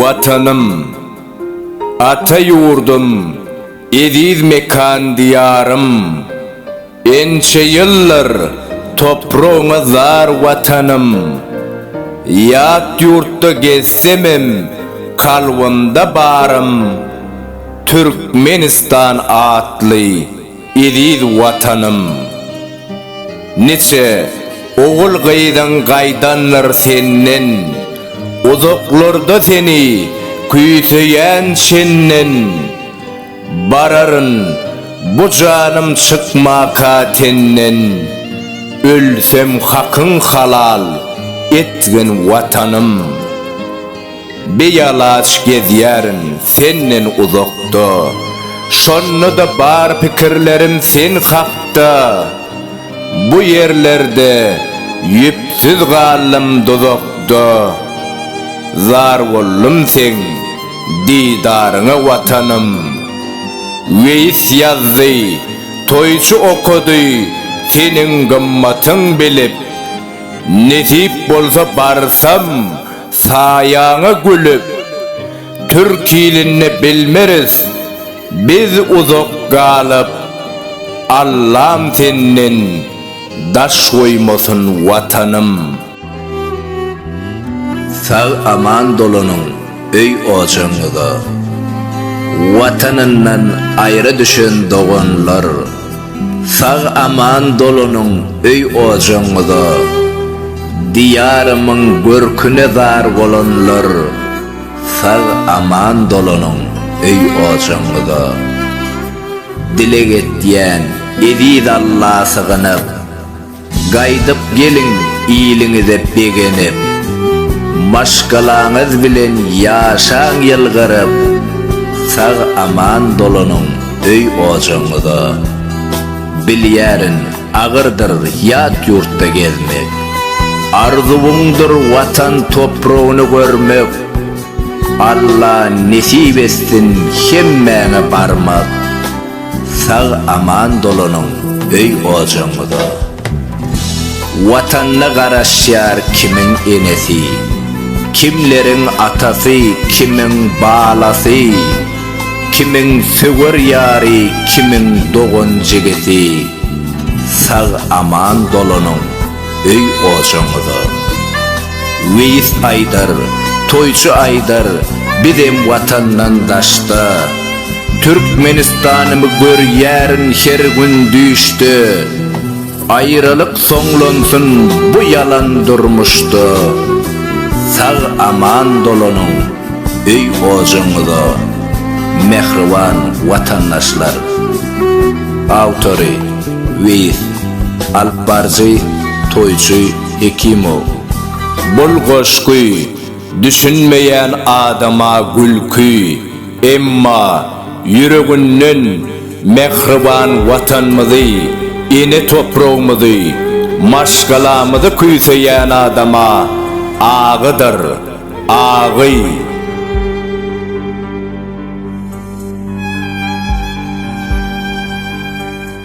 Watanym, ata ýurdum, eziz mekan Diýarym! Ençe ýyldyr topragyňa zar Watanym! Ýat ýurtda gezsemem kalbymda barym Türkmenistan atly. Eziz Watanym! Niçe ogul-gyzyň gaýdandyr senden, Uzaklarda seni küýseýän çenden. Bararyn bu janym çykmaka tenden, Ölsem hakyň halal etgin Watanym! Bialaç gezýärin senden uzakda, Şonda-da bar pikirlerim sen hakda. Bu ýerlerde ýüpsüz galdym duzakda, Zar boldum seň didaryňa Watanym. Weýis ýazdy, toýçy okady, Seniň gymmatyň bilip, Nesip bolsa barsam, Saýaňa gülüp, türkilinde bilmeris biz uzak galyp, Allam senden daş goýmasyn Watanym. Sag aman dolanyň öý ojagyňyza. Watanyndan aýra düşen doganlar. Sag aman dolanyň öý ojagyňyza, Diýarymyň görküne zar bolanlar, Sag aman dolanyň öý ojagyňyza. Dileg etýän eziz Alla sygynyp. Gaýdyp geliň iliňize begenip, Maşgalaňyz bilen ýaşaň ýylgyryp, Sag-aman dolanyň öý-ojagyňyza. Bilýärin, agyrdyr ýat ýurtda gezmek, Arzuwyňdyr Watan topragyny görmek, Alla nesip etsin hemmäňe barmak. Sag aman dolanyň öý ojagyňyza. Watanyna garaşýar kimiň enesi, kimleriň atasy, kimiň balasy, kimiň söwer ýary, kimiň dogan-jigisi. Sag aman dolanyň. öý ojaňyza. Weýis aýdar, toýçy aýdar, bizem watandan daşda. Türkmenistanymy görýärin her gün düýşde. Aýralyk soňlansyn bu ýalan durmuşda. Sag aman dolanyň öý ojaňyza. Mähriban watandaşlar. Awtory, Weýis. Alypbaryjy, toýçy Hekimow. Bul goşgy düşünmeýän adama gülki, emma ýüreginden mähriban Watanymyzy, ene topragymyzy, maşgalamyzy küýseýän adama agydyr, agy.